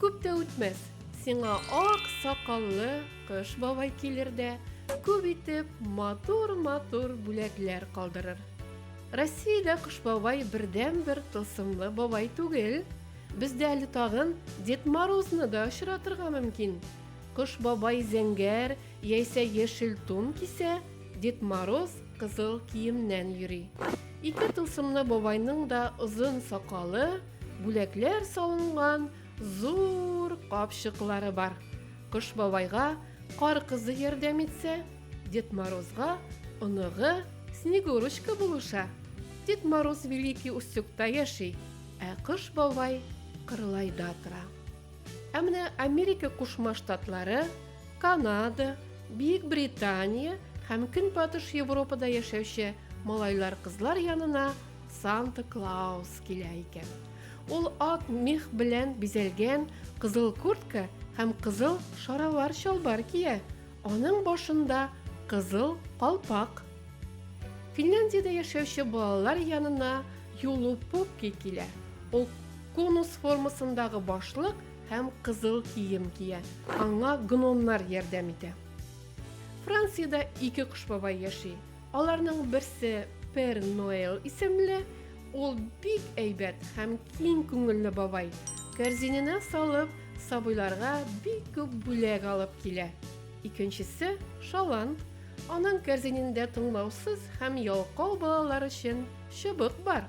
Күп тә үтмәс, сиңа ак сакаллы кыш бабай килер дә, күп итеп матур-матур бүләкләр калдырыр. Россиядә кыш бабай бердән-бер тылсымлы бабай түгел. Бездә әле тагын Дед Морозны да очратырга мөмкин. Кыш бабай зәңгәр яисә яшел тун кисә, Дед Мороз кызыл киемнән йөри. Ике тылсымлы бабайның да озын сакалы, Бүләкләр салынган зур капчыклары бар. Кыш бабайга кар кызы ярдәм итсә, Дед Морозга оныгы Снегурочка булыша. Дед Мороз Великий Устюгта яши, ә Кыш бабай Кырлайда тора. Ә менә Америка Кушма Штатлары, Канада, Бөек Британия һәм Көнбатыш Европада яшәүче малайлар-кызлар янына Санта Клаус килә икән. Ул ак мех белән бизәлгән кызыл куртка һәм кызыл шаравар чалбар кия. Аның башында кызыл калпак. Финляндиядә яшәүче балалар янына Юлу Пукки килә. Ул конус формасындагы башлык һәм кызыл кием кия. Аңа гномнар ярдәм итә. Франциядә ике кош бабай яши. Аларның берсе Пер Ноэл исемле, ул бик әйбәт һәм киң күңелле бабай. Кәрзиненә салып, сабыйларга бик күп бүләк алып килә. Икенчесе Шалан. Аның кәрзинендә тыңлаусыз һәм ялкау балалар өчен чыбык бар.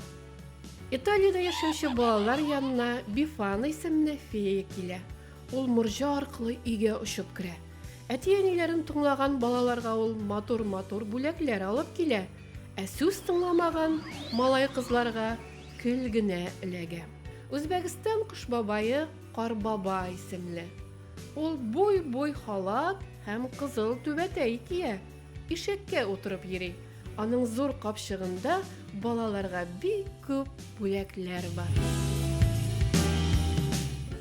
Италиядә яшәүче балалар янына Бифана исемле фея килә. Ул морҗа аркылы өйгә очып керә. Әти-әниләрен тыңлаган балаларга ул матур-матур бүләкләр алып килә, ә сүз тыңламаган малай-кызларга көл генә эләгә. Үзбәкстан кош бабае Карбаба исемле. Ул буй-буй халат һәм кызыл түбәтәй кия, ишәккә утырып йөри. Аның зур капчыгында балаларга бик күп бүләкләр бар.